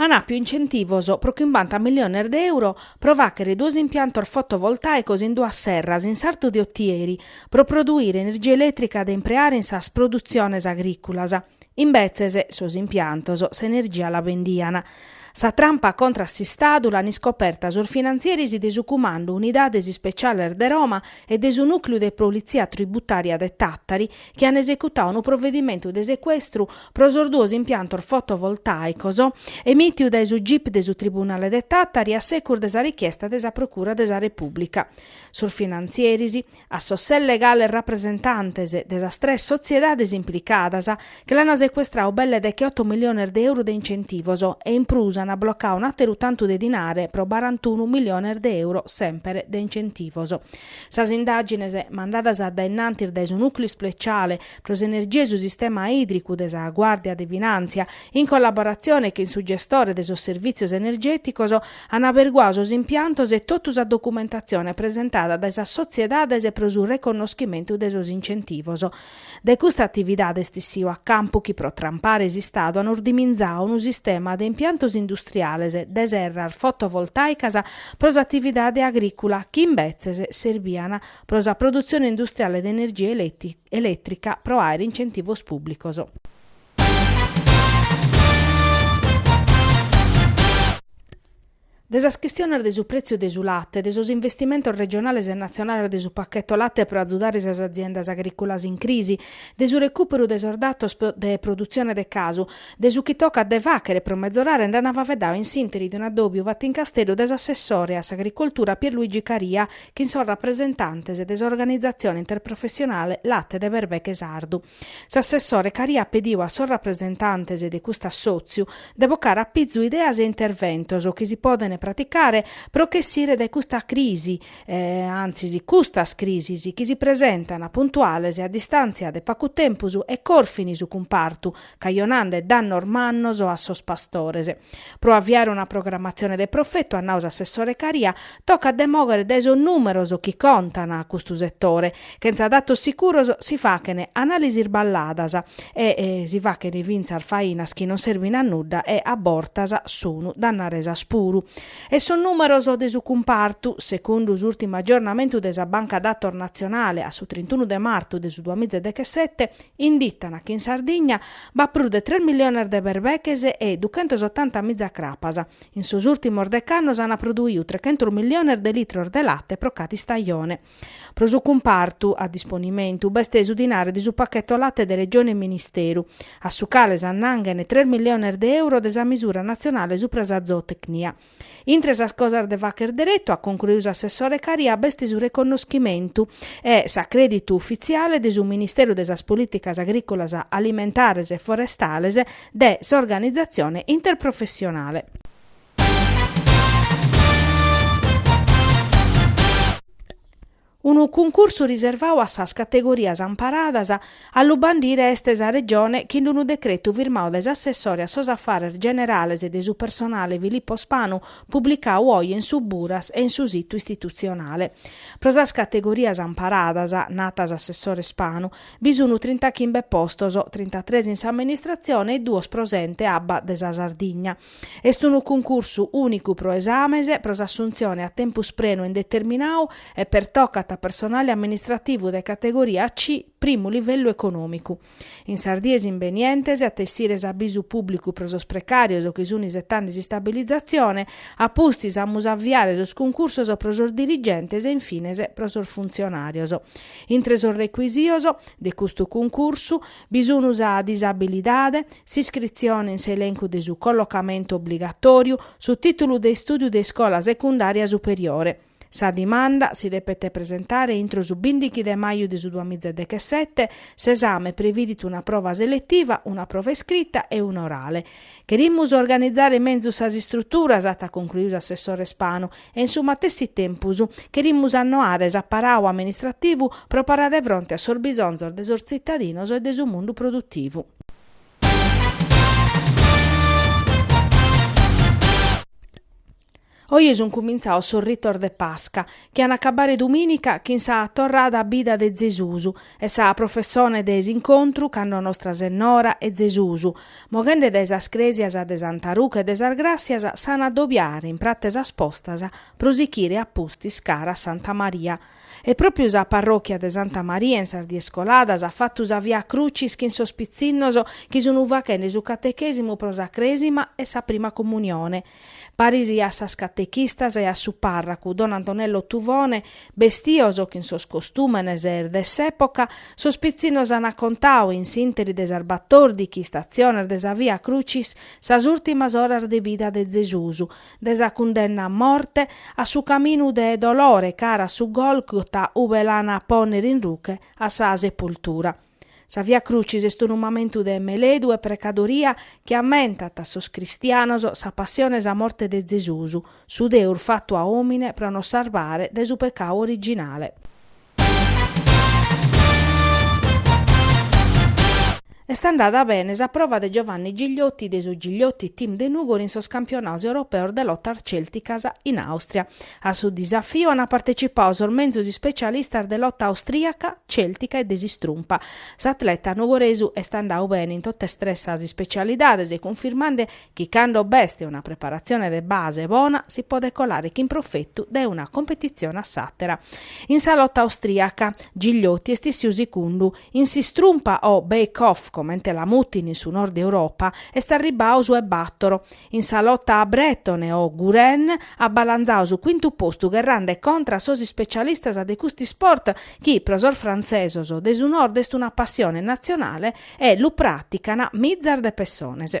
An àpiu incentivos pro chimbanta milliones de euro pro fàghere duos impiantos fotovoltàicos in duas serras in sartu de Otieri pro produire energia elètrica de impreare in sas produtziones agrìculas. Imbetzes, sos impiantos s'energia la bendian. Sa trampa contra a s'Istadu l'an iscoperta sos finantzieris de su Cumandu Unidades Ispeciales de Roma e de su Nùcliu de Politzia Tributària de Tàtari, chi an esecutadu unu provedimentu de secuestru pro sos duos impiantos fotovoltàicos emìtiu dae su gip de su tribunale de Tàtari a segus de sa richiesta de sa procura de sa Repùblica. Sos finantzieris, a sos ses legales rapresentantes de sas tres sotziedades implicadas, che l'an secuestradu belle de che oto miliones de euros de incentivos e in prus an blocadu un'àteru tantu de dinare pro barantunu miliones de euro semper de incentivos. Sas indàgines mandadas dae innantis dae su Nùcleu Ispeciale pro s'Energia e su Sistema Ìdricu de sa Guàrdia de Finàntzia, in collaboratzione chin su gestore de sos servìtzios energèticos, an aberguadu sos impiantos e totu sa documentatzione presentada dae sas sotziedades pro su reconnoschimentu de sos incentivos. De custa atividade est essiu a campu chi pro trampare s'Istadu an ordiminzadu unu sistema de impiantos industriales de serras fotovoltàicas pro s'atividade agrìcula chi imbetzes serbian pro sa produtzione industriale de energia elètrica pro àere incentivos pùblicos. De sas chistiones de su prètziu de su late, de sos investimentos regionales e natzionales de su pacheto late pro atzudare sas aziendas agrìculas in crisi, de su recùperu de sos datos de produtzione de casu, de su chi tocat de fàghere pro mezorare nd'an faeddadu in s'ìnteri de un'addòbiu fatu in Casteddu de s'assessore a s'agricoltura Pierluigi Caria chin sos rapresentantes de s'organizatzione interprofessionale Late de Berbeche Sardu. S'assessore Caria at pediu a sos rapresentantes de cust'assòtziu de bocare a pizu ideas e interventos chi si podent praticare pro ch'essire dae custa crisi, antzis custas crisis, chi si presentan puntuales a distàntzia de pagu tempus e corfin su cumpartu, cajonende dannos mannos a sos pastores. Pro aviare una programatzione de profetu, at nau s'assessore Caria, Tocat de mòghere dae sos nùmeros chi contan custu setore. Chentza datos sicuros si faghen anàlisis isballadas e si faghen fintzas fainas chi non serbin a nudda e a bortas sun dannaresas puru. E sos nùmeros de su cumpartu, segundu s'ùrtimu agiornamentu de sa Banca Datos Natzionale a su trintunu de martu de su duamiza e dechesete, inditan chi in Sardigna b'at prus de tres milliones de berbeches e duchentos otanta miza crapas, In sos ùrtimos dec'annos ant produiu trechentos milliones de litros de late pro cada istajone. Pro su cumpartu a disponimentu b'est su dinare de su pacheto late de Regione e Ministeru, a su cale s'annanghen tres milliones de euro de sa misura natzionale supra sa zootecnia. Intre sas cosas de fagher deretu, at concluiu s'assessore Caria, b'est su reconnoschimentu e s'acrèditu ufitziale de su Ministeru de sas Polìticas Agrìcolas, Alimentares e Forestales, de s'organizatzione interprofessionale. Unu cuncursu riservau a sas categorias amparadas a lu bandire est sa Regione chin d'unu decretu firmau dae s'assessore a sos affares generales de su personale Filippo Spanu publicau oje in su Buras e in su situ istitutzionale. Pro sas categorias amparadas, at nau s'assessore Spanu, Bi sunu trintachimbe postos, trintatres in s'amministratzione e duos pro s'ente abba de sa Sardigna. Est unu cuncursu ùnicu pro esames pro s'assuntzione a tempus prenu e indeterminau e pertocat a personale amministrativu de categoria C, primu livellu econòmicu. In sas dies imbenientes at a essire s'abisu pùblicu pro sos precàrios chi sun isetande s'istabilizatzione, a pustis amus a aviare sos cuncursos pro sos dirigentes e in fines pro sos funtzionàrios. Intre sos recuisitos de custu cuncursu bi sun sa disabilidade, s'iscritzione in s'elencu de su collocamentu obligatòriu, su tìtulu de istùdiu de iscola secundària superiore. Sa dimanda si depet presentare intro su bìndighi de maju de su duamìa e dechesete, s'esame previdit una prova seletiva, una prova iscrita e una orale. Cherimus organizare menzus sas istruturas, at concluiu s'assessore Spanu, e in su matessi tempus cherimus annoare s'aparau amministrativu pro parare fronte a sos bisonzos de sos tzitadinos e de su mundu produtivu. Oje sunt cumintzaos sos ritos de Pasca, chi an a acabare dumìnica chin sa torrada a bida de Zesus e sa professone de s'incontru cando Nostra Sennora e Zesus, moghende dae sas crèsias de Santa Ruche e de sas Gràssias, s'an a dobiare in pratza 'e sas Postas pro sichire a pustis cara a Santa Maria. E pròpiu sa parròchia de Santa Maria in sas dies coladas at fatu sa Via Crucis chin sos pitzinnos chi sun fachende su catechèsimu pro sa Crèsima e sa Prima Comunione. Paris a sas catechistas e a su pàrracu don Antonello Tuvone, bestios chin sos costùmenes de s'època, sos pitzinnos ant contau, in s'ìnteri de sas batòrdichi istatziones de sa Via Crucis, sas ùrtimas oras de bida de Zesus, de sa cundenna a morte, a su caminu de dolore cara a su Gòlgota ube l'an a pònnere in ruche a sa sepultura. Sa Via Crucis est unu mamentu de meledu e precadoria chi ammentat a sos cristianos sa passione e sa morte de Zesus, su Deus fatu a òmine pro nos sarbare dae su pecau originale. Est andada bene sa prova de Giovanni Gigliotti de su Gigliotti Team de Nùgoro in sos campionados europeos de lotas cèlticas in Àustria. A su disafiu ant partecipau sos menzus ispecialistas de lota austriaca, celtica e de s'istrumpa. S'atleta nugoresu est andau bene in totas tres sas ispecialidades, cunfirmande chi cando b'est una preparatzione de base bona si podet colare chin profetu dae una competitzione a s'àtera. In sa lota austriaca, Gigliotti est issiu sicundu. In s'istrumpa o Backhold, comente la mutin in su Nord Europa, est arribau su 'e batoro. In sa lota brètone o Gouren at balanzadu su cuintu postu gherrande contra a sos ispecialistas de custu isport chi pro sos frantzesos de su Nord est una passione natzionale e lu pràtican mizas de pessones.